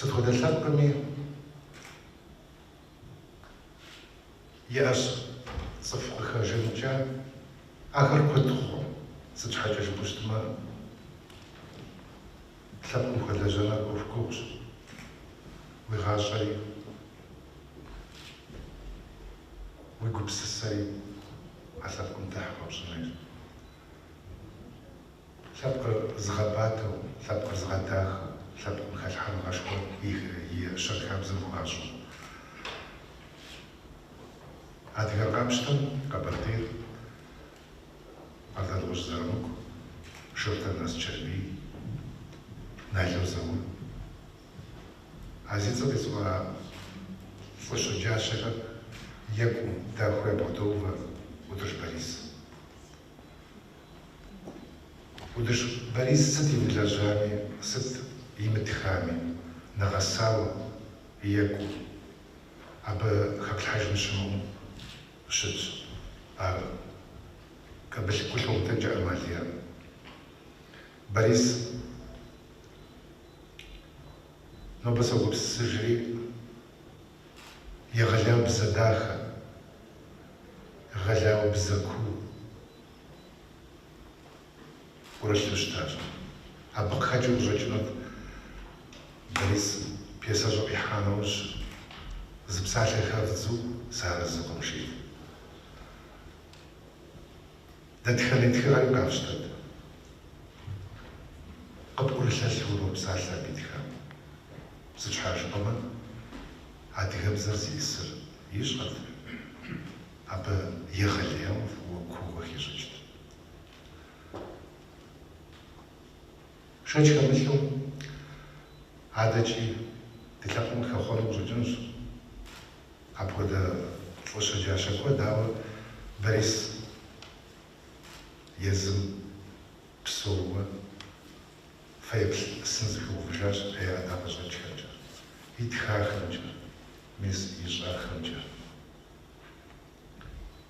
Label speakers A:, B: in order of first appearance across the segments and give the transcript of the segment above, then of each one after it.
A: Сыт хуэдэ лъэпкъми иӏэщ цӏыху къыхэжаныкӏ, ахэр куэд хъу. Сыт щхьэкӏэ жыпӏэу щытмэ, лъэпкъым хуэлэжьэныр ӏуэху гугъущ, уи гъащӏэри, уи гупсысэри а лъэпкъым тыхь хуэпщӏын хуейщ. Лъэпкъыр зыгъэбатэу, лъэпкъыр зыгъэдахэу, лъэпкъым хэлъхьэныгъэшхуэ и щэнхабзэм хуащӏу. Адыгэр къапщтэмэ, Къэбэрдейр, Къардэнгъущӏ Зырамыку, Шортэн Аскэрбий, Нало Заур, а зи цӏэ къисӏуа лӏы щэджащэхэм екӏуу, дахэу ябгъэдоувэ Ӏутӏыж Борис. Ӏутӏыж Борис сыт имылэжьами, сыт имытхами, нэгъэсауэ екӏуу абы хэплъхьэжын щымыӏэу щытщ ар. Кабылъкуу лъумытэкӏэ Амалия. Борис нобэ согупсысыжри. Егъэлеяуэ бзэ дахэ, егъэлеяуэ бзэ куу ӏурылъу щытащ. Абы къыхэкӏыу къыщӏэкӏынут Борисым, пьесэщӏэ къихьа нэужь, зы псалъэ хэвдзу, сыарэзыкъым жиӏэт. Дэтхэнэ тхыгъэри къафщтэт. Къыпӏурылъэлъу уропсалъэ абы итхам. Сыт щхьэ жыпӏэмэ, адыгэбзэр зищӏысыр ищӏэрт, абы егъэлеяуэ фӏыуэ куууэ хищӏыкӏт. Шэч хэмылъу, адэкӏи ди лъэпкъым къыхэхъуэну къыщӏэкӏынущ апхуэдэ лӏы щэджащэ куэд, ауэ Борис езым псэууэ фэеплъ сын зыхуигъэувыжащ и ӏэдакъэщӏэкӏхэмкӏэ, итхахэмкӏэ, мис ищӏахэмкӏэ.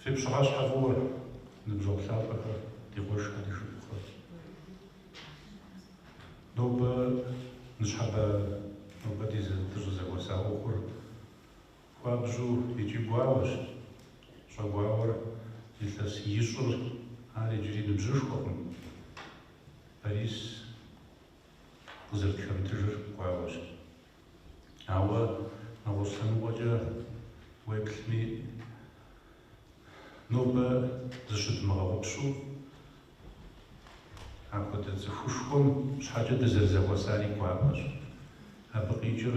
A: Фи пщыхьэщхьэ фӏыуэ, ныбжьэгъу лъапӏэхэ, ди къуэшхэ, ди шыпхъухэ. Нобэ ныщхьэбэ, нобэ ди дыщӏызэхуэса ӏуэхур хуабжьу икӏи гуауэщ. Щӏэгуауэр илъэс блыщӏыр ар иджыри ныбжьышхуэкъым. Борис къызэрытхэмытыжыр гуауэщ. Ауэ нэгъуэщӏ лъэныкъуэкӏэ уеплъми, нобэ зыщыдмыгъэгъупщэу апхуэдэ цӏыхушхуэм щхьэкӏэ дызэрызэхуэсари гуапэщ. Абы къикӏыр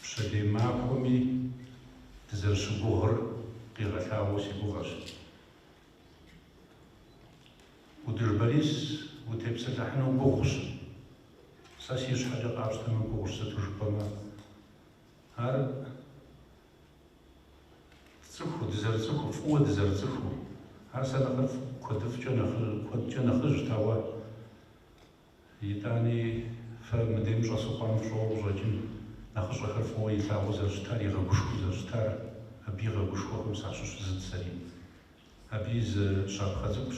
A: пщэдей махуэми дызэрыщыгугъыр къигъэлъагъуэу си гугъэщ. Ӏутӏыж Борис, утепсэлъыхьыну гугъущ. Сэ си щхьэкӏэ къапщтэмэ гугъущ, сыту жыпӏэмэ. Ар цӏыху, дызэрыцӏыху, фӏыуэ дызэрыцӏыху. Ар сэ нэхърэ куэдыфӏкӏэ нэхъыжь, куэдкӏэ нэхъыжьт, ауэ Итӏани, фэ мыдейм щӏэс къомым фщӏэуэ къыщӏэкӏын, нэхъыщӏэхэр фӏыуэ илъагъуу зэрыщытар, игъэгушхуэу зэрыщытар, абы игъэгушхуахэм сащыщ зыт сэри. Абы и зы щапхъэ цӏыкӏущ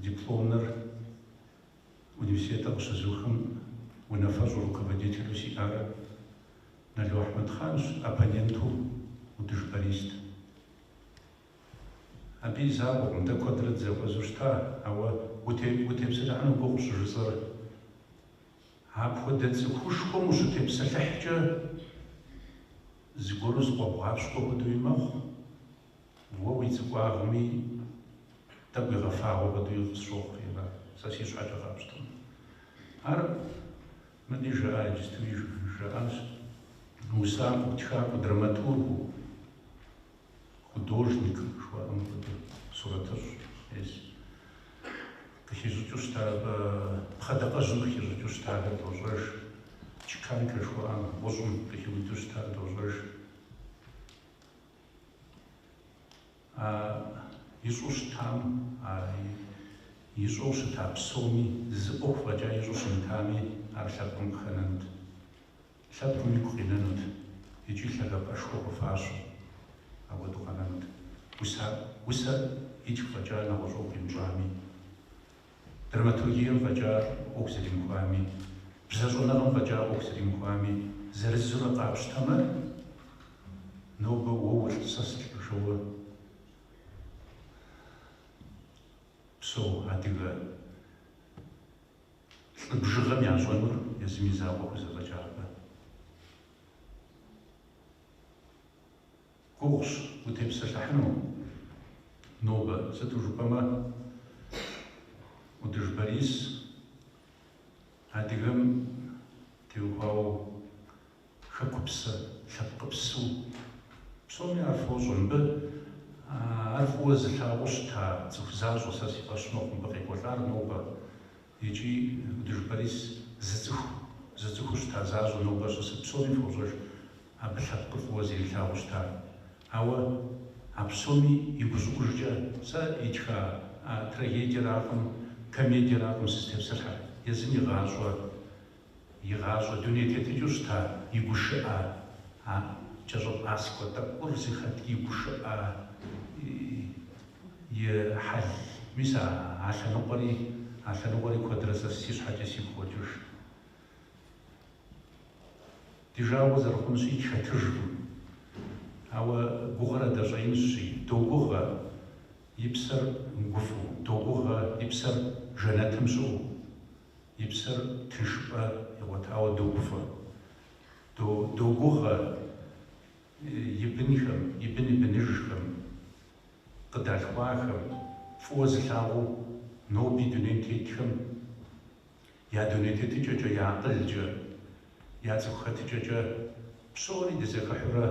A: дипломнэр университетыр къыщызухым унафэщӏу руководителу сиӏар Нало Ахьмэдхъанщ, оппоненту Ӏутӏыж Борист. Абы и закъуэкъым дэ куэдрэ дызэхуэзэу щыта, ауэ утепсэлъыхьыну гугъу щӏыжысӏэр. Апхуэдэ цӏыхушхуэм ущытепсэлъыхькӏэ, зыгуэру зыкъуэбгъапщкӏуэ хуэдэуи мэхъу, уэ уи цӏыкӏуагъми тӏэкӏу игъэфагъуэ хуэдэуи къысщохъури ара, сэ си щхьэкӏэ къапщтэмэ. Ар мыдэ жаӏа, иджыстуи жаӏащ, усакӏуэу, тхакӏуэу, драматургу. Художник жыхуаӏэм хуэдэ сурэтыщӏ ес. Къыхищӏыкӏыу щыта пхъэдакъэжьым къыхищӏыкӏыу щытахэр дощӏэж. Чеканкэ жыхуаӏэм гъущӏым къыхиуду щытар дощӏэж. А ищӏу щытам, а ищӏэу щыта псоми, зы ӏуэху фӏэкӏа ищӏу щымытами, ар лъэпкъым къыхэнэнт. Лъэпкъым игу къинэнут икӏи лъагапӏэшхуэ къыхуащӏу апхуэдэу къэнэнут. Усэр итх фӏэкӏа нэгъуэщӏ ӏуэху имыщӏами, драматургием фӏэкӏа ӏуэху зэримыхуами, бзэщӏэныгъэм фӏэкӏа ӏуэху зэримыхуами, зырызурэ къапщтэмэ, нобэ уэ улӏ, сэ сылӏ жиӏэу псэу адыгэ Лӏы бжыгъэм ящӏэнур езым и закъуэ хузэфӏэкӏакъэ? Гугъущ, утепсэлъыхьыну. Нобэ, сыту жыпӏэмэ, Ӏутӏыж Борис адыгэм теухуауэ Хэкупсэ, лъэпкъыпсэу. Псоми ар фощӏэ. Мыбы ар фӏыуэ зылъагъуу щыта цӏыху защӏэ сэ си фӏэщ мэхъу мыбы къекӏуэлӏар нобэ. Икӏи Ӏутӏыж Борис зыцӏыху, зыцӏыхуу щыта защӏэ нобэ щысыр псоми фощӏэж абы лъэпкъыр фӏыуэ зэрилъагъуу щытар. Ауэ а псоми и гущӏыӏужкӏэ сэ итха а трагедиеракъым, комедиеракъым сызытепсэлъхьэр. Езым и гъащӏэ И гъащӏэ дуней тетыкӏэу щыта и гушыӏэ, а кӏэщӏэпӏаскӏуэ тӏэкӏур зи хъэтӏ и гушыӏэ, и хьэл. Мис а а лъэныкъуэри, а лъэныкъуэри куэдрэ сэ си щхьэкӏэ сигу къокӏыж. Ди жагъуэ зэрыхъунщи тхэтыжкъым. Ауэ гугъэр адэ щӏэинщи, догугъэ и псэр гуфӏэу, догугъэ и псэр жэнэтым щыӏэу. И псэр тыншыпӏэ игъуэтауэ догуфӏэ, догугъэ и бынхэм, и бын и быныжхэм къыдалъхуахэм, фӏыуэ зылъагъуу ноби дунейм тетхэм я дуней тетыкӏэкӏэ, я акъылкӏэ, я цӏыху хэтыкӏэкӏэ псори дызэхыхьэурэ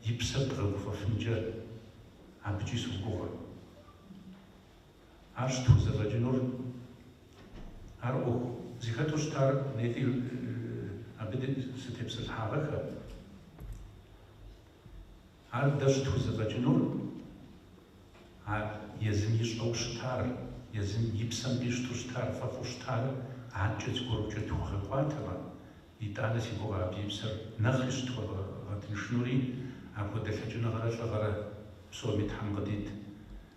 A: и псэр дгъэгуфӏэфынкӏэ абыкӏи согугъэ. Ар щытхузэфӏэкӏынур, а ӏуэху зыхэту щытар нетӏи абы сытепсэлъыхьагъэххэ. Ар дэ щытхузэфӏэкӏынур а езым ищӏэу щытар, езым и псэм къищту щытар, фӏэфӏу щытар адэкӏэ зыгуэрукӏэ тхуэгъэкӏуатэмэ, итӏанэ си гугъэ абы и псэр нэхъри щытхуэгъэтыншынури, апхуэдэ лъэкӏыныгъэрэ лӏыгъэрэ псоми Тхьэм къыдит.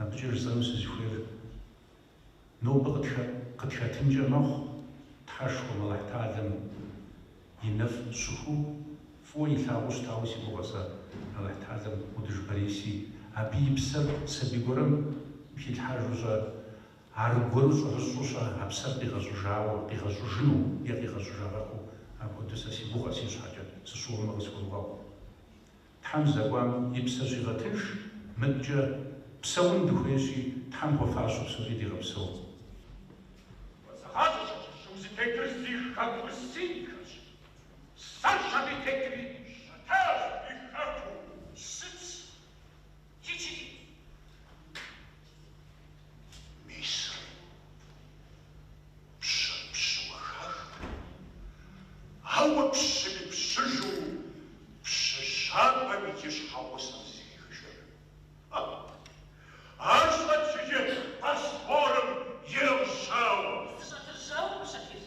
A: Абыкӏэ жысӏэну сызыхуейр, нобэ къытхэтынкӏэ мэхъу Тхьэшхуэм, Алыхьталэм и нэфӏ щыхуэу, фӏыуэ илъагъуу щытауэ си гугъэ сэ, Алыхьталэм Ӏутӏыж Бориси, абы и псэр сабий гуэрэм хилъхьэжу щӏэ, аргуэру щӏэрыщӏэу щӏэ, а псэр къигъэщӏыжауэ, къигъэщӏыжыну е къигъэщӏыжагъэххэу апхуэдэу сэ си гугъэ си щхьэкӏэ, сыщыуэмэ къысхуэвгъэгъу. Тхьэм здэкӏуам и псэ щигъэтынш, мыдэкӏэ псэун дыхуейщи, Тхьэм хуэфащэу псори дигъэпсэу. Хуэзыгъащӏэщ абы щыгъу зытетыр зи хэкур синхэщ, сэщ абы тетри. Щытащ ди хэкур, сыц. Мисри, пщыр пщыуэ хахмэ, ауэ пщыми пщыжу пщы щабэм иджы щхьэгъусэм зыхихыжыр. Ха! Ар щӏэчыжыр Босфорым ирыгъжьауэ. Зыщӏэтыжьауэ къыщыхьыж.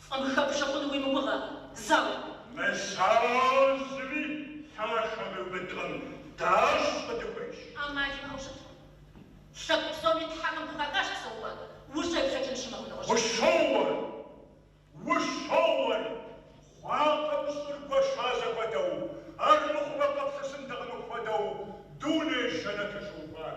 A: Фӏым хэпщӏэ хъуну уи мыгугъэ, зауэ? Мыщажьми, лъашэ мыубыдкъым, дащӏ къыдыхуейщ. ӏэмал имыӏэу щытмэ, лъэпкъ псоми Тхьэхэм хухахащ псэупӏэ ущӏеплъэкӏыну щымыӏэу нэгъуэщӏ. Ущоуэ, ущоуэ, хъуакъым щӏыр гуэша зэхуэдэу, армыхъумэ къыплъысынтэкъым мыпхуэдэу дуней жэнэтыр щыухуар.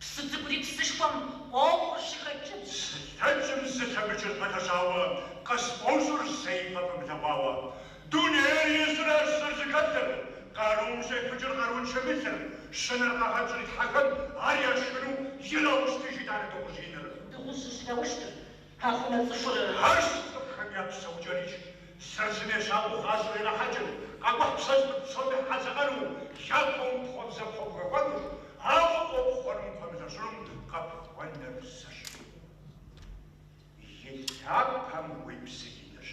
A: Псы цӏыкӏури псышхуэм ӏуэхур щыхэкӏынщ. Зылъэкӏым зылъэмыкӏыр пэлъэщауэ, къысфӏощӏыр сэ ипэ фымылъэгъуауэ. Дунейр езыр арщ зэрызэхэлъыр, къарум щӏефыкӏыр къарууншэм и лъыр, щынэр къагъэщӏри тхьэхэм, ар яшхыну ираущтыж итӏанэ дыгъужь иныр. Дыгъужь ущыраущтыр Къэхъумэ цӏыхур арщ цӏыхухэм я псэукӏэри зыр зым ещакӏуэу гъащӏэр ирахьэкӏыр, къэкӏухь пщэжьхэр псоми хьэзыӏэну, япэу пхъуэбзэ пхуэбгъэкӏуэнущ, ауэ къопхъуэрым хуэмылэщӏынум къэпхъуэныр зыщ. И лъапэм уи псы инырщ.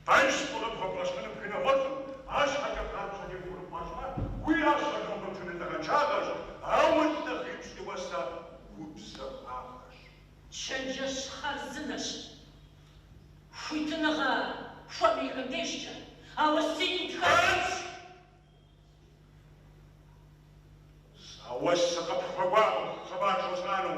A: Къэнщ фӏы къыпхуэбгъэщӏэну пхынэгъуэцӏым, арщхьэкӏэ къапщӏэ теухуэрыпӏащӏэмэ, уи ӏэщэр нобэ пшынэ лӏыгъэншагъэщ, ауэ лӏы къипщӏи уэсэ убзэ ӏуагъэщ. Чэнджэщ хъарзынэщ. Хуитыныгъэ хуэмейхэм дежкӏэ, ауэ сигу дыхэсынущ. Зауэ сыкъыпхуэкӏуакъым хъыбар жысӏэну.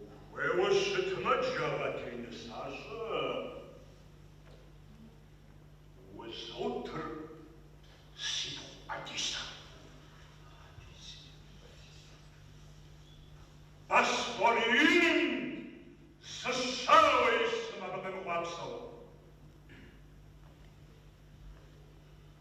A: Ухуейуэ щытмэ, джэгъэте нысащӏэ, узотыр си пхъу ӏэдисэм. Босфор иным зы щауэ искъым абы къемыхъуапсэу.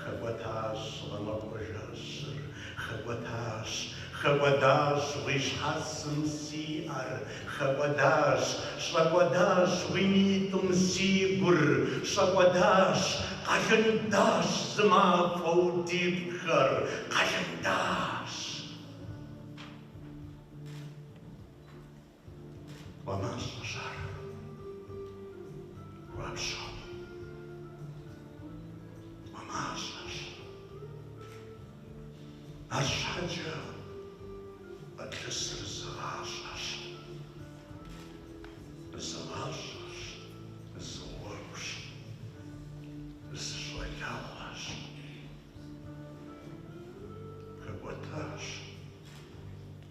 A: Хэкӏуэтащ гъэмахуэ жэщыр, хэкӏуэтащ, хэкӏуэдащ уи щхьэцым си ӏэр, хэкӏуэдащ, щӏэкӏуэдащ уи нитӏым си гур, щӏэкӏуэдащ, къалындащ зы мафӏэу ди пкъхэр, къалындащ. Тхуэмащӏэщ ар. Гуапщэу. Тхуэмащӏэщ. Арщхьэкӏэ къытлъысыр зы гъащӏэщ. Зы гъащӏэщ, зы гъуэгущ, зы щӏалэгъуэщ. Хэкӏуэтащ.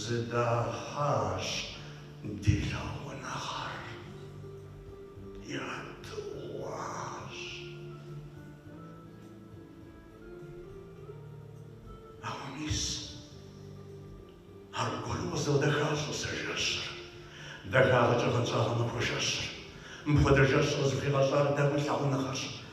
A: Зыдахьащ ди лъагъуныгъэр, ядыгъуащ. Ауэ мис аргуэру къызэвдэхащ сэ жэщыр, дахагъэкӏэ гъэнщӏа гъэмахуэ жэщыр. Мыпхуэдэ жэщ къызыхуигъэщӏар дэгу лъагъуныгъэрщ,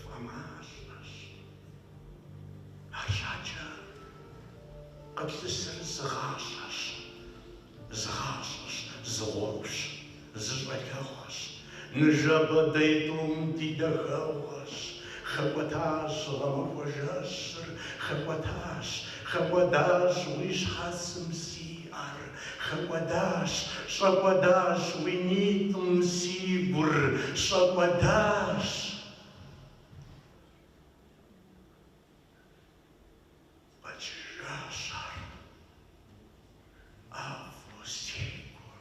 A: фӏэмащӏэщ. Арщхьэкӏэ къыплъысыр зы гъащӏэщ, зы гъащӏэщ, зы гъуэгущ, зы щӏалэгъуэщ, ныжэбэ дэ тӏум ди дахэгъуэщ, хэкӏуэтащ гъэмахуэ жэщыр, хэкӏуэтащ, хэкӏуэдащ уи щхьэцым си ӏэр, Хэкӏуэдащ, щӏэкӏуэдащ уи нитӏым си гур, щӏэкӏуэдащ. Къэкӏыжащ ар ӏэфӏу си гум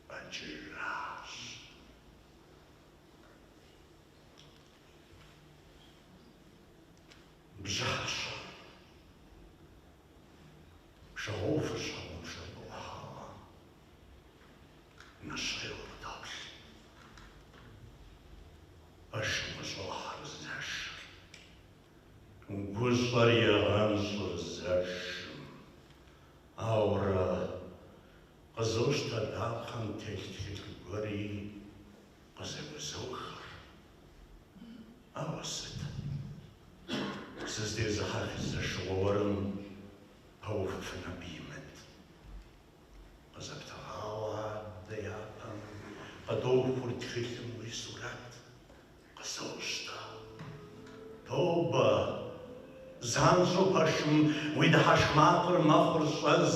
A: къэкӏыжащ. Бжьащэм Пшагъуэ ӏувыр щхьэгъубжэм къыӏухьауэ нэщхъейуэ къыдоплъ. Пэшым къыщӏохьэр зэшыр. Гущӏэр егъэнщӏыр зэшым. Ауэрэ къызощтэ дапхъэм телъ тхылъ гуэри Къызэгузохыр, ауэ сыт? Сыздезыхьэх зэшыгъуэ уэрым пэувыфын абы имыт. Къызэптыгъауэ адэ япэм къыдохур тхылъым уи сурэт, къызощтэ. Тобэ, Занщӏэу пэшым уи дыхьэшх макъыр мэхъур щӏэз,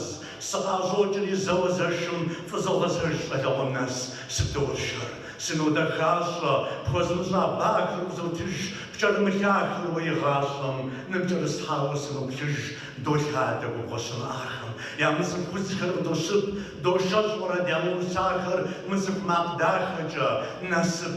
A: сыкъыӏэщӏокӏри зэуэ зэшым фӏызогъэзэж щӏалэгъуэм нэс, сыбдоуэршэр, сынодэхащӏэ, пхуэзымыщӏа бахэр узотыж, пкӏэрымылъахэр уэ игъащӏэм ныпкӏэрыслъхьауэ сыноплъыж, долъадэ губгъуэ щымыӏахэм, ямыцӏыху удзхэр къыдощып, дошэщӏ уэрэд ямыусахэр мыцӏыху макъ дахэкӏэ, насып,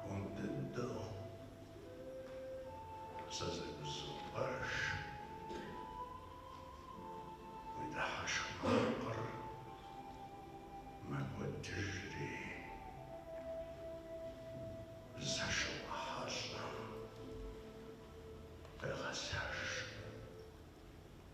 A: Хуэм дыдэу сэ зэгузопӏэж, уи дыхьэшх макъыр мэкӏуэдыжри, зэшыгъуэ хьэлъэм къегъэзэж.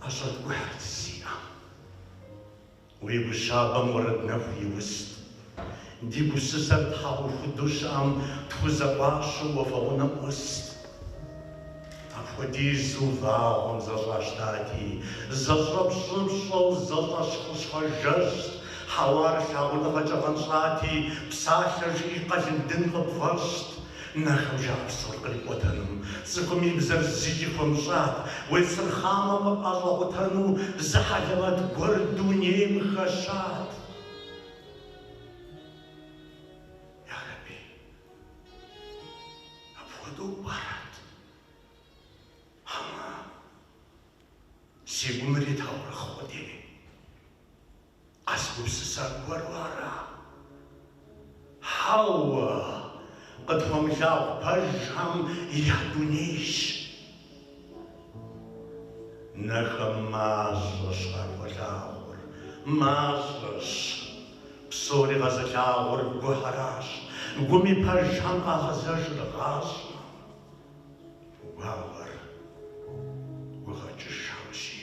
A: ӏэщӏэткӏухьырт си ӏэм. Уи гу щабэм уэрэд нэху иуст. Ди гупсысэр тхьэӏухуду щыӏэм тхузэӏуащэу уафэ гъунэм ӏуст. Апхуэдизу вагъуэм зэщӏащтати, зэщӏэпщӏыпщӏэу зэщӏэщхъыщхъэ жэщт, хьэуар лъагъуныгъэкӏэ гъэнщӏати, псалъэ жыӏи къэлындын къыпфӏэщӏт, Нэхэм жаӏэ псор кърикӏуэтэным, цӏыхум и бзэр зыкӏи хуэмыщӏат, уесырхъамэ къыпӏэщӏэкъутэну зы хьэлэмэт гуэр дунейм хэщат. Ярэби, апхуэдэу пӏэрэт? Хьэмэ, си гум уритаурыхъ къудейми? Къэзгупсыса гуэру ара? Хьэуэ, къытхуэмылъагъу пэжхэм я дунейщ. Нэхэм мащӏэщ къахуэлъагъур, мащӏэщ. Псори къэзылъагъур гухэращ, гуми пэжхэм къагъэзэжыр гъащӏэм. Гугъагъэр гугъэкӏышхэмщи.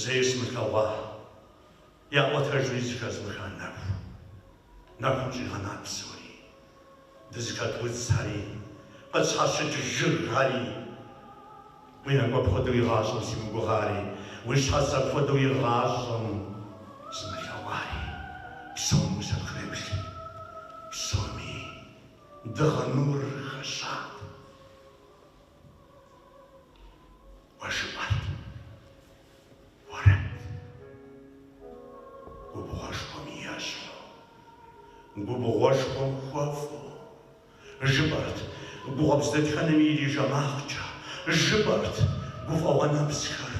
A: зэи сымылъэгъуа, яӏуэтэжуи зыхэзмыха нэху. Нэхум щӏигъэнат псори, дызыхэт удзхэри, къытщхьэщыт жыгхэри. Уи нэкӏу апхуэдэу игъащӏэм симыгугъари, уи щхьэц апхуэдэу игъащӏэм сымылъэгъуари, псом усэпхреплъи, псоми дыгъэ нур хэщат. Уэ жыпӏэрт уэрэд. Губгъуэшхуэм ещхьу. Губгъуэшхуэм хуэфӏу. Жыпӏэрт. Гу къуэпс дэтхэнэми ирижэ макъкӏэ. Жыпӏэрт. Гуфӏэгъуэ нэпсхэр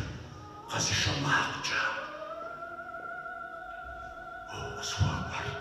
A: къэзышэ макъкӏэ. Уэ укъысхуэкӏуэрт.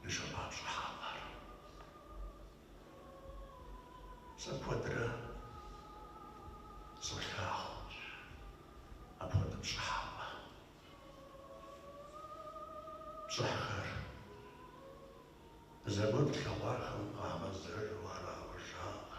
A: Дыщафэ пщӏыхьэпӏэр сэ куэдрэ солъагъу, апхуэдэ пщӏыхьэпӏэ, пщӏыхьхэр зэгуэр тлъэгъуахэм къагъэзэжу арауэ жаӏэ.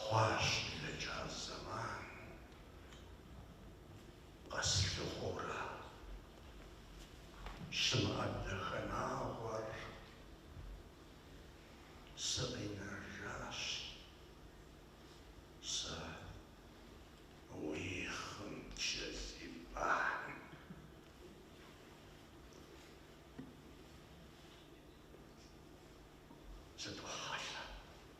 A: Хъуащ блэкӏа зэман, къэслъыхъуэурэ, щымыӏэ Дахэнагъуэр сыкъинэжащ сэ уи хъым кӏэлъимпӏэхьым. Сытохьэлъэ.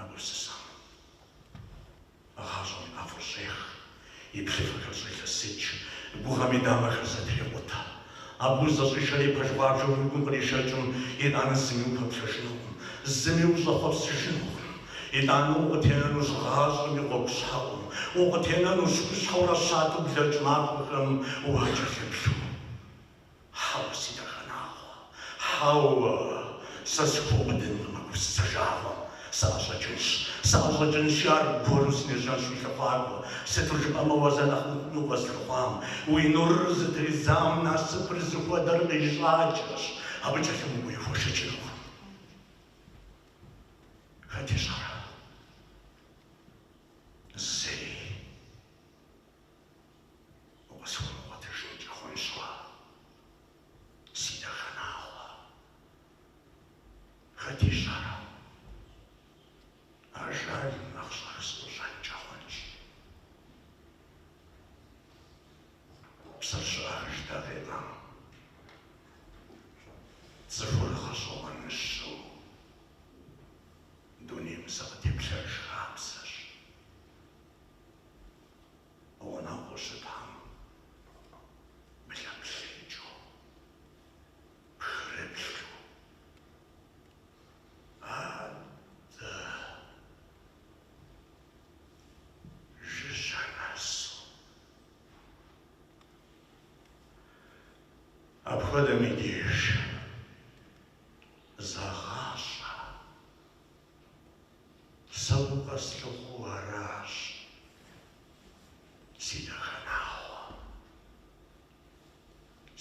A: а гупсысэм гъащӏэм и ӏэфӏыр щӏех, и плъыфэхэр щӏелъэсыкӏ, гугъэм и дамэхэр зэтрекъутэ. Абы узэщӏишэри пэж гъуабжэу уи гум къришэкӏым, итӏанэ зыми упэплъэжынукъым, зыми ущӏэхъуэпсыжынукъым. Итӏанэ укъытенэнущ гъащӏэм и гъуэгу щхьэӏум, укъытенэнущ хущхьэурэ щатэу блэкӏ махуэхэм уакӏэлъыплъу. Хьэуэ, си дахэнагъуэ, хьэуэ, сэ сыхуэубыдынкъым а гупсысэ жагъуэм. Сыӏэщӏэкӏынщ, сыӏэщӏэкӏынщи, аргуэру сынежьэнщ уи лъыхъуакӏуэ, сыту жыпӏэмэ уэ зэ нэхъ мыхъуми укъэзылъэгъуам, уи нурыр зытридзам насыпыр зыхуэдэр къищӏакӏэщ, абы кӏэлъымыкӏуэуи хуэшэчынукъым. Хэт ищӏэрэ? Зэи. Укъысхуэмыгъуэтыжынкӏэ хъунщ уэ, си дахэнагъуэ. Хэт ищӏэрэ? Ажалым нэхъ щӏэх сыӏущӏэнкӏэ хъунщ. Псэр щеӏэж дакъикъэм, цӏыхур гъэщӏэгъуэныщэу дунейм зэ къытеплъэж хабзэщ. Гъунэгъуу щытхэм блэплъыкӏыу, пхрыплъу адэ жыжьэ нэсу. Апхуэдэм и деж зэгъащӏэ. Сэ укъэслъыхъуэу аращ, си дахэнагъуэ,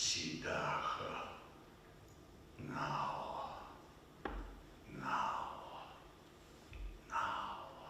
A: си дахэнагъуэ, нагъуэ, нагъуэ, нагъуэ.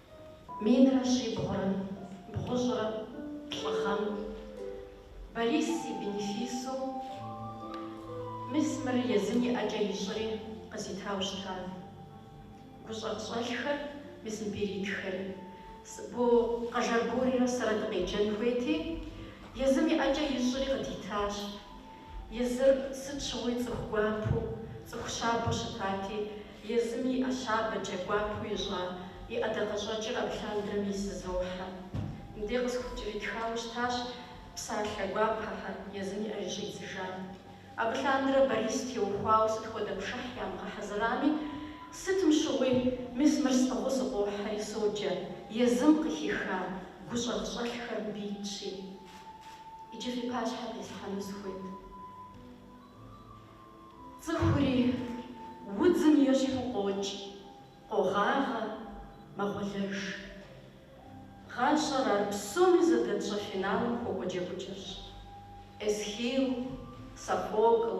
A: Минрэ щибгъурэ бгъущӏрэ плӏы гъэм Борис и бенефисым мис мыр езым и ӏэкӏэ ищӏри къызитауэ щытат гущӏагъщӏэлъхэр, мис мпиритхэри. Бо Къэжэр Борисрэ сэрэ дыкъеджэн хуейти, езым и ӏэкӏэ ищӏри къыдитащ. Езыр сыт щыгъуи цӏыху гуапэу, цӏыху щабэу щытати, Езым и ӏэ щабэкӏэ гуапэу ищӏа и ӏэдакъэщӏэкӏыр абы лъандрэ мис зызохьэ. Мыдей къысхукӏэритхауэ щытащ псалъэ гуапэхэр, езым и ӏэ щӏидзыжар. Абы лъандрэ Борис теухуауэ сыт хуэдэ пшыхь ямыгъэхьэзырами, сытым щыгъуи, мис мыр сӏыгъыу сыкъохьэри соджэ, езым къыхиха гущӏагъщӏэлъхэр мыбы итщи. Иджы фи пащхьэ къислъхьэну сыхуейт. Цӏыхури удзым ещхьу къокӏ, къогъагъэ, мэгъуэлэж. Гъащӏэр ар псоми зэдэтщӏэ финалым хуэкӏуэ джэгукӏэщ. Эсхил, Софокл,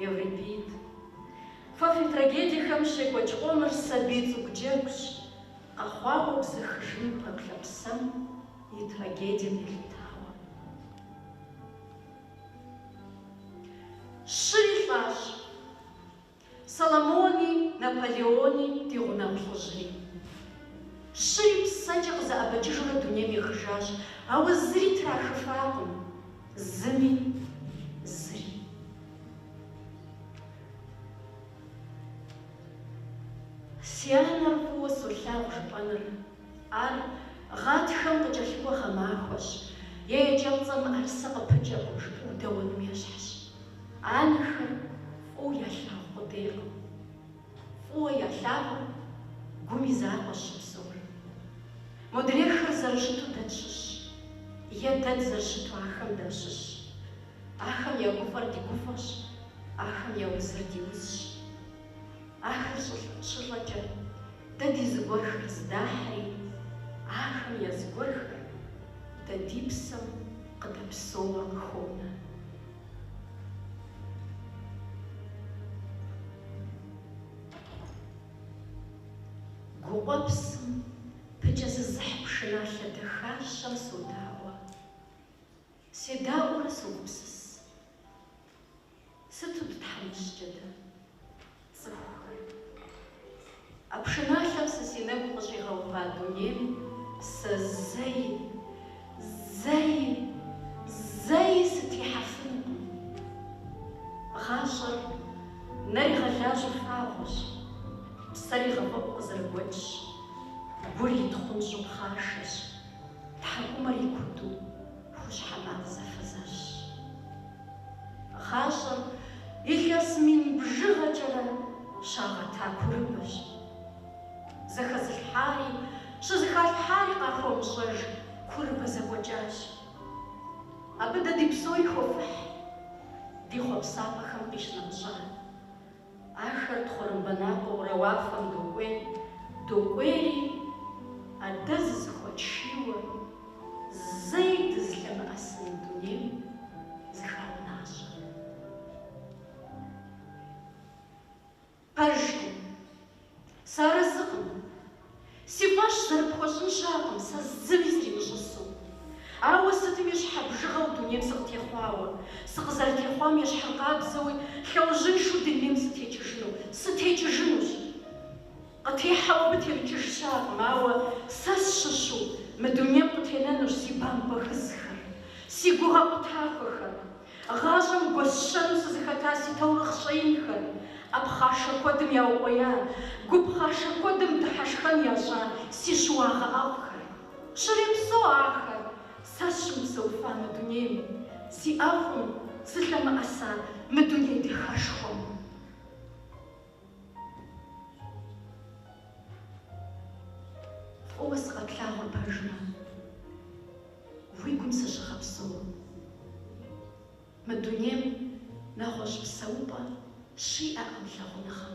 A: Еврипид. Фэ фи трагедиехэм щекӏуэкӏ къомыр сабий цӏыкӏу джэгущ, къэхъуауэ бзэхыжыну пэплъэ псэм и трагедием елъытауэ. Щыри лӏащ Соломони, Наполеони, ди гъунэгъу лӏыжьри. Щыри псэкӏэ къызэӏэбэкӏыжурэ дунейм ехыжащ, ауэ зыри трахыфакъым, зыми, зыри. Си анэр фӏыуэ солъагъу жыпӏэныр. Ар гъатхэм къыкӏэлъыкӏуэ гъэмахуэщ е екӏэпцӏэм мыӏэрысэ къыпыкӏэкъым жыпӏэу дэуэным ещхьщ. Анэхэр фӏыуэ ялъагъу къудейкъым. Фӏыуэ ялъагъум гум и закъуэщ щыпсэур. Модрейхэр зэрыщыту дэ тщыщщ, е дэ дызэрыщыту ахэм дащыщщ. Ахэм я гуфӏэр ди гуфӏэщ, ахэм я узыр ди узщ. Ахэр щы- щылӏэкӏэ дэ ди зыгуэрхэр здахьри, ахэм я зыгуэрхэр дэ ди псэм къыдэпсэууэ къыхонэ. Гукъуэпсым пыкӏэ зызыхь пшыналъэ дахащэм содаӏуэ. Седаӏуэурэ согупсыс. Сыту дытхьэмыщкӏэ дэ, цӏыхухэр! А пшыналъэм сэ си нэгу къыщӏигъэува дунейм сэ зэи, зэи, зэи сытехьэфынукъым. Гъащӏэр нэр игъэлажьэу фагъуэщ, псэр игъэфӏэӏуу къызэрыгуэкӏщ, гур итхъунщӏу пхъашэщ, тхьэкӏумэр икуту. Хущхьэ макъ зэфэзэщщ. Гъащӏэр илъэс мин бжыгъэкӏэрэ щагъэта курыбэщ. Зэхэзылъхьари щызэхалъхьари къахуэмыщӏэж курыбэ зэкӏуэкӏащ. Абы дэ ди псори хуэфыхь, ди хъуэпсапӏэхэм къищынэмыщӏа. Ахэр тхъурымбэ налъэурэ уафэм докӏуей, докӏуейри, адэ зызыхуэтшийуэ, зэи дызылъэмыӏэсын дунейм зыхаунащӏэ. Пэжкъым. Сэ арэзыкъым. Си фӏэщ зэрыпхуэщӏын щыӏэкъым сэ зыми сримыщӏысу, ауэ сытми щхьэбжыгъэу дунейм сыкъытехъуауэ, сыкъызэрытехъуам ещхьыркъабзэуи лъэужьыншэу дунейм сытекӏыжыну, сытекӏыжынущ. Къытехьауэ мытекӏыж щыӏэкъым, ауэ сэ сщыщу мы дунейм къытенэнущ си бампӏэ гызхэр, си гугъэ къутахуэхэр. Гъащӏэм гуэсщэну сызыхэта си таурыхъ щӏэинхэр, ӏэ пхъашэ куэдым яукъуея, гу пхъашэ куэдым дыхьэшхэн ящӏа си щыуагъэ ӏэфӏхэр. Щрепсэу ахэр сэ сыщымыпсэуфа мы дунейм, зи ӏэфӏым сылъэмыӏэса мы дуней дахэшхуэм. Фӏыуэ сыкъэплъагъур пэжмэ, уи гум сыщыгъэпсэу. Мы дунейм нэгъуэщӏ псэупӏэ щиӏэкъым лъагъуныгъэм.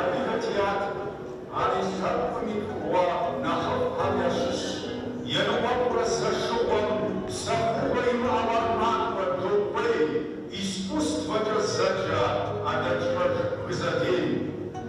A: Адыгэ театрым, ар и лъэпкъым и пкъыгъуэ нэхъыщхьэхэм ящыщщ, Ерыхъуэпкърэ Сэшыгъуэм псэхугъуэ имыӏэу ар махуэр докӏуей искусствэкӏэ зэджэ Адэкӏмэжыху Гызэдейм.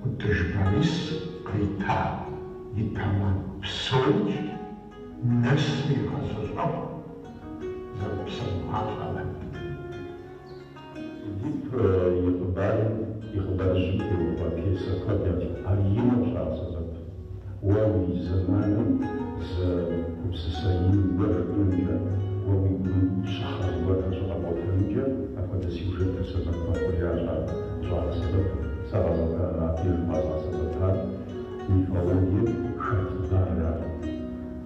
A: Ӏутӏыж Борис къищта и темэ псомкӏи нэсу игъэзэщӏэху зэрыпсэугъалӏэмэ. Эдип и хъыбарым и хъыбарыжьым теухуа пьесэ куэд ящӏ, ар и нэу щӏагъэсэбэп. Уэ уи зэманым зы гупсысэ ин уэ хэкӏуэнкӏэ, уэ уи гум щӏыхьэ зыгуэрхэр щыкъэбгъуэтэнкӏэ апхуэдэ сюжетыр сэбэп мэхъу, аращ ар къыщӏагъэсэбэпыр. Сэ къэзыгъэ абдежым къэзыгъэсэбэпар мифологием хэт хъыбар ар.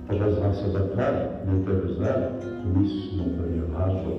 A: Къыщӏэзыгъэсэбэпар, нетӏэ жысӏар, мис нобэрей гъащӏэу.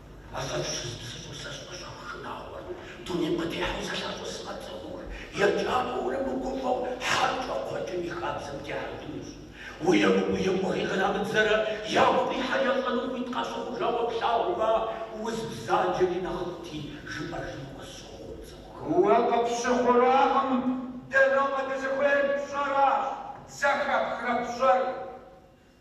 A: Афэщ щызыпсэур сэ сӏэщӏэху шынагъуэр, дунейм къытехьэу сэ лъакъуэсымэ цӏыхур, еджакӏуэурэ мыгуфӏэу хьэрщӏэ кхъуэкӏым и хабзэм техьэжынущ. Емыкӏур емыкӏуу кърамыдзэрэ ягу къихьэр ящӏэну хуит къащыхъужауэ плъагъумэ, уз бзаджэри нэхъыфӏти, жыпӏэжын къысщыхъуу цӏыхухэм. Уэ къыпщыхъуракъым, дэ нобэ дызыхуейр пщӏэращ, зэхэпхрэ пщӏэр.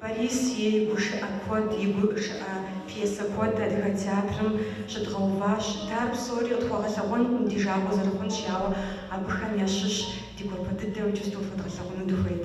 A: Борис и гушыӏэ куэд, и гушыӏэ пьесэ куэд Адыгэ театрым щыдгъэуващ. Дэ ар псори къытхуэгъэлъэгъуэнкъым ди жагъуэ зэрыхъунщ, ауэ абыхэм ящыщ ди гуапэ дыдэу иджыпсту фэдгъэлъэгъуну дыхуейт.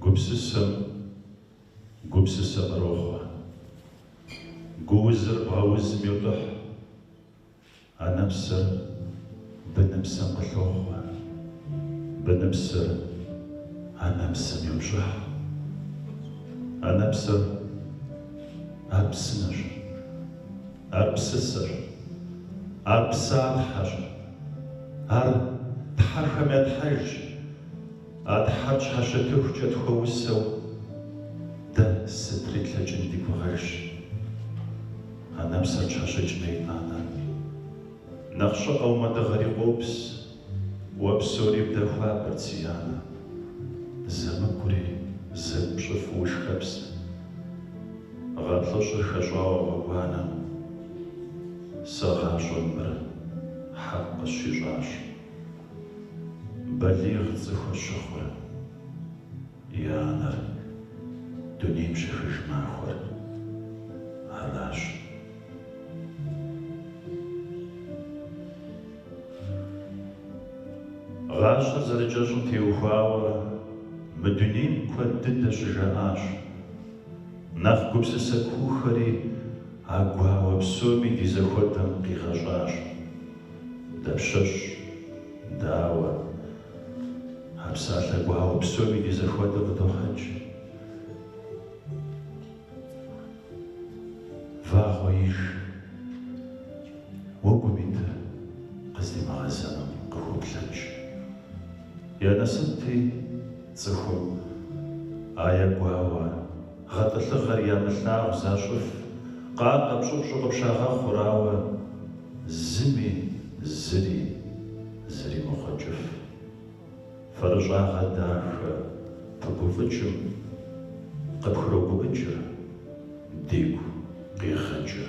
A: Гупсысэм гупсысэ кърохъуэ. Гуузыр бгъэузым йотӏыхь. Анэпсэр быныпсэм къылъохъуэ. Быныпсэр анэпсэм йопщӏыхь. Анэпсэр ар псынэщ. Ар псысэщ. Ар псатхьэщ. Ар тхьэхэм я Тхьэжщ. А Тхьэр пщхьэщытыхукӏэ тхуэусэу дэ сытри тлъэкӏын ди гугъэжщ. Анэпсэр пщхьэщыкӏмэ, итӏанэ нэхъ щӏыӏэу мы дыгъэри къопс, уэ псори бгъэхуабэрт си анэ. Зэмыкӏури зэкӏу пщӏыфу ушхэпст. Гъэ плӏыщӏыр хэщӏауэ гъуэгуанэм, си гъащӏэм мыр хьэкъ къысщищӏащ. Балигъ цӏыхур щыхъур и анэр дунейм щехыж махуэр аращ. Гъащӏэр зэрыкӏэщӏым теухуауэ мы дунейм куэд дыдэ щыжаӏащ. Нэхъ гупсысэ куухэри а гуауэ псоми ди зэхуэдэм къигъэщӏащ. Дапщэщ, дауэ, а псалъэ гуауэ псоми ди зэхуэдэ къыдохьэкӏ. Вагъуэ иж, уэгум итыр къыздимыгъэзэну къыхуоплъэкӏ. Я насыпти, цӏыхум а я гуауэ гъэтӏылъыгъэр ямылъагъу защӏыф, къакъэ-пщӏыпщӏу къыпщагъэхъурауэ, зыми зыри зримыхъуэкӏыф. Фэрыщӏагъэ дахэ пыгуфӏыкӏым къыпхрогуӏыкӏыр, ди гу къигъэкӏыр.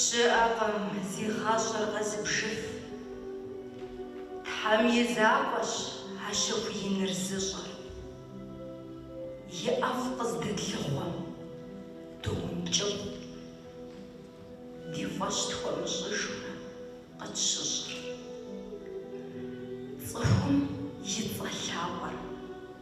A: Щыӏэкъым, зи гъащӏэр къэзыбжыф. Тхьэм и закъуэщ а щэху иныр зыщӏэр. И ӏэфӏ къыздэтлъыхъуэм доункӏыфӏ. Ди фӏэщ тхуэмыщӏыжурэ къытщыщӏыр. Цӏыхум и цӏэ лъапӏэр.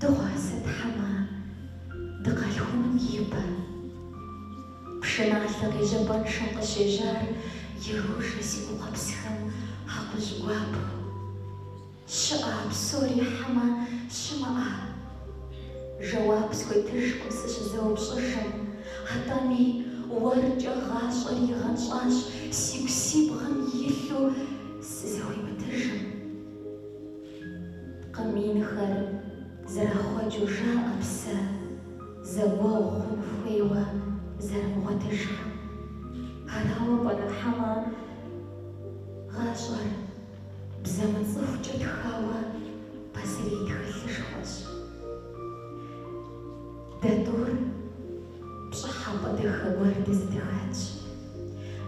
A: Дыгъуасэ хьэмэ дыкъалъхуным ипэ пшыналъэ къежьапӏэншэм къыщежьар ирожэ си гукъэпсхэм акъужь гуапэу. Щыӏа а псори хьэмэ щымыӏа? Жэуап схуетыжкъым сыщызэупщӏыжым, атӏэми уэркӏэ гъащӏэри гъэнщӏащ сигу си бгъэм илъу сызэхуимытыжым. Кхъым инхэр зэрахъуэкӏыу жаӏэ псэ зэгуэгъу хъун хуейуэ зэрымыгъуэтыжхэм. Арауэ пӏэрэ хьэмэ гъащӏэр бзэ мыцӏыхукӏэ тхауэ пасэрей тхылъышхуэщ? Дэ тӏур. Пщӏыхьэпӏэ дахэ гуэр дызэдыхэтщ.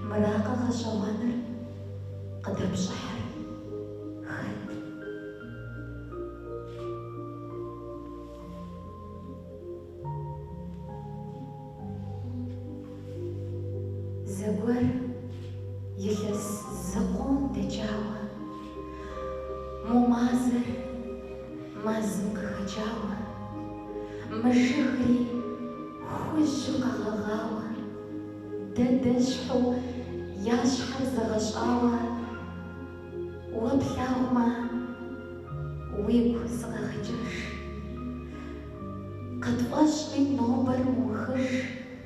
A: Мыракъэ гъэщӏэгъуэныр къыдэпщӏыхьыр? Хэт? Зэгуэр илъэс зыкъом дэкӏауэ, мо мазэр Мэзым къыхэкӏауэ, мы жыгри хужьу къэгъэгъауэ, дэ дэщхьу я щхьэр зэгъэщӏауэ, уэ плъагъумэ, уигу сыкъэгъэкӏыж. Къытфӏэщӏми нобэр мыухыж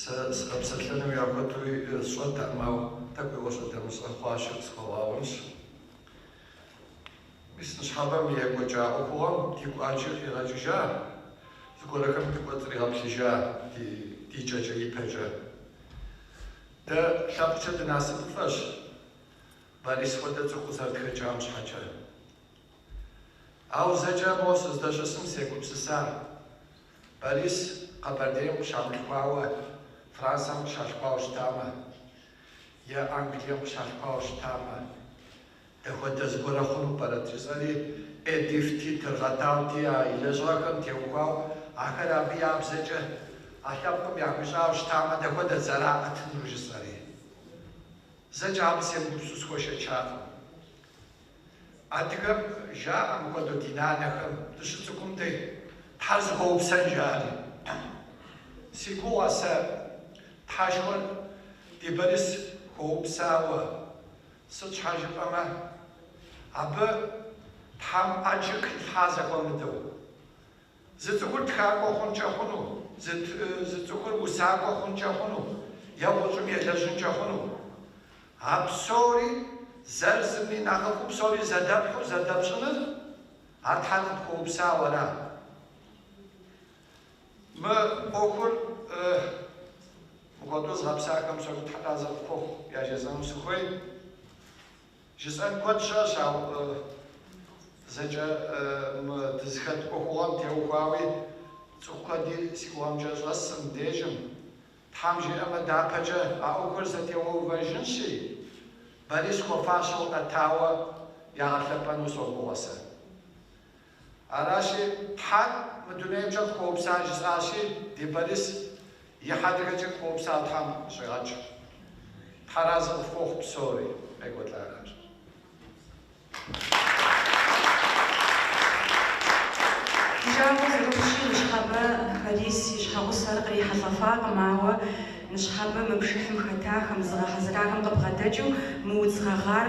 A: Сэ сыкъэпсэлъэну яхэтуи сщӏэтэкъым, ау тӏэкӏу и ӏуэщӏэ дэмыщӏэ хъуащи къысхуэвгъэгъунщ. Мис ныщхьэбэм екӏуэкӏа ӏуэхугъуэм ди кӏуачэр къигъэкӏыжа, зыгуэрхэм дыкӏуэцӏригъэплъыжа ди ди кӏэкӏэ ипэкӏэ. Дэ лъэпкъкӏэ дынасыпыфӏэщ, Борис хуэдэ цӏыху къызэрытхэкӏам щхьэкӏэ. Ау зэкӏэ мо сыздэщысым сегупсыса. Борис Къэбэрдейм къыщамылъхуауэ Францэм къыщалъхуауэ щытамэ, е Англием къыщалъхуауэ щытамэ, дапхуэдэ зыгуэрэ хъуну пӏэрэт? жысӏэри, Эдипти, Тыргъэтауэти, а и лэжьыгъэхэм теухуауэ, ахэр абы я бзэкӏэ а лъэпкъым яхуищӏауэ щытамэ, дапхуэдэт зэраӏэтынур? жысӏэри. Зэкӏэ абы семыгупсысу схуэшэчакъым. Адыгэм жаӏэ мыхуэдэу ди нанэхэм, дыщыцӏыкӏум дей, Тхьэр зыхуэупсэн жаӏэри. Си гугъэ сэ Тхьэшхуэр ди Борис хуэупсауэ, сыт щхьэ жыпӏэмэ, абы Тхьэм ӏэджэ къилъхьа зэхуэмыдэу. Зы цӏыхур тхакӏуэ хъункӏэ хъуну, зы цӏыхур усакӏуэ хъункӏэ хъуну е гъущӏым елэжьынкӏэ хъуну. А псори, зыр зыми нэхъыфӏу псори зэдэпхьу зэдэпщӏыныр, ар Тхьэр къыпхуэупсауэра? Мы ӏуэхур мыхуэдэу зыгъэпсахэм псори Тхьэ разы къыфхуохъу яжесӏэну сыхуей. Жысӏэн куэд щыӏэщ, ауэ зэкӏэ мы дызыхэт ӏуэхугъуэм теухуауи цӏыху куэди си гугъэмкӏэ щӏэсщ мыбдежым. Тхьэм жиӏэмэ, дяпэкӏэ а ӏуэхур зэтеувэжынщи, Борис хуэфащэу ӏэтауэ ягъэлъэпӏэну согугъэ сэ. Аращи, Тхьэр мы дунеймкӏэ къыхуэупса жысӏащи, ди Борис и хьэдрыхэкӏэ къыхуэупса Тхьэм къыщӏигъэкӏ. Тхьэ разы къыфхуохъу псори, къекӏуэлӏахэр. Ди жагъуэ зэрыхъущи, Ныщхьэбэ Борис и щхьэгъусэр кърихьэлӏэфакъым, ауэ Ныщхьэбэ мы пшыхьым хэтахэм, зыгъэхьэзырахэм къыбгъэдэкӏыу мы удз гъэгъар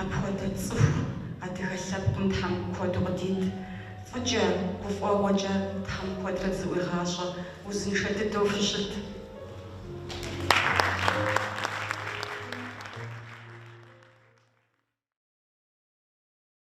A: Апхуэдэ цӏыху адыгэ лъэпкъым Тхьэм куэду къыдит. Фӏыкӏэ, гуфӏэгъуэкӏэ Тхьэм куэдрэ дызэӏуигъащӏэ, узыншэ дыдэу фыщыт!